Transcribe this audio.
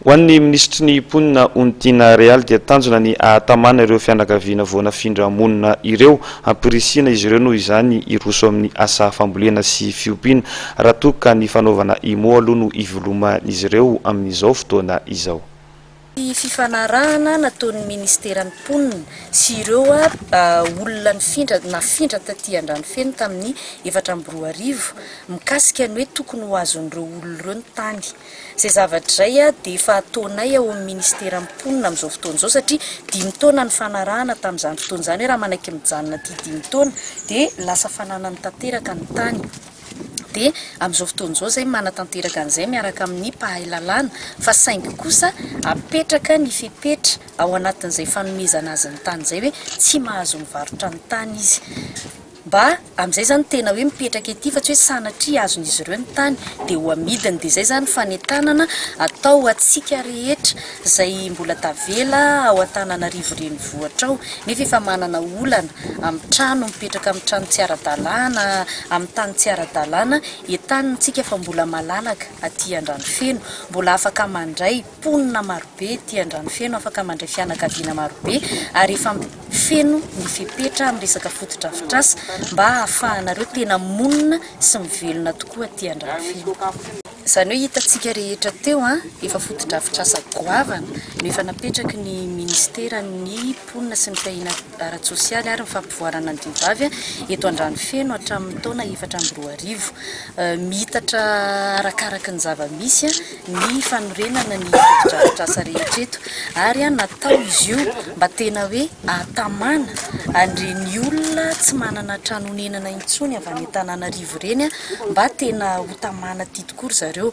Ho an'ny minisitry ny Mponina Ontiana Real dia tanjona ny hahatamana ireo fianakaviana voanafindra monina ireo. Ampirisihina izy ireo noho izany hiroso amin'ny asa fambolena sy fiompiana raha toa ka ny fanaovana IMO aloha no iveloman'izy ireo amin'izao fotoana izao. Ny fifanarahana nataon'ny minisiteran'ny Mponina sy ireo olona nifindra nafindra taty Andranofeno tamin'ny efatra amby roa arivo mikasika ny hoe tokony ho azon'ireo olona ireo ny tany. Izay zavatra izay dia efa ataonay ao amin'ny Minisiteran'ny Mponina amin'izao fotoana izao satria dimy taona ny fanarahana tamin'izany fotoana izany hoe raha manaiky mijanona aty dimy taona dia lasa fananany tanteraka ny tany dia amin'izao fotoana izao izay manatanteraka an'izay miaraka amin'ny mpahay lalàna fa saingy kosa apetraka ny fepetra ao anatin'izay fanomezana azy ny tany izay hoe tsy mahazo mivarotra ny tany izy. Mba amin'izay zany tena hoe mipetraka ety fa tsy hoe sanatria azon'izy ireo ny tany dia ho amidiny dia izay zany fanentanana atao ho antsika rehetra izay mbola tavela ao Antananarivo renivohitra ao nefa efa manana olana amin'ny trano mipetraka amin'ny trano tsy ara-dalàna amin'ny tany tsy ara-dalàna entanina tsika fa mbola malalaka aty Andranofeno mbola afaka mandray Mponina marobe ety Andranofeno afaka mandray fianakaviana marobe ary efa feno ny fepetra amin'ny resaka fotodrafitrasa mba hahafahanareo tena monina sy mivelona tokoa aty Andranofeno. Izany hoe hitantsika rehetra teo an, efa fotodrafitrasa goavana no efa napetraky ny ministeran'ny. ara-mponina sy ny fiahiana ara-tsosialy ary ny fampivoarana ny diam-bavy eto Andranofeno hatramin'ny taona efatra amby roa arivo. Miitatra arakaraka ny zava-misy ny fanorenana ny fotodrafitrasa rehetra eto ary natao izy io mba tena hoe ahatamana an'ireny olona tsy manana trano honenana intsony avy any Antananarivo ireny mba tena hotamana aty tokoa ry zareo.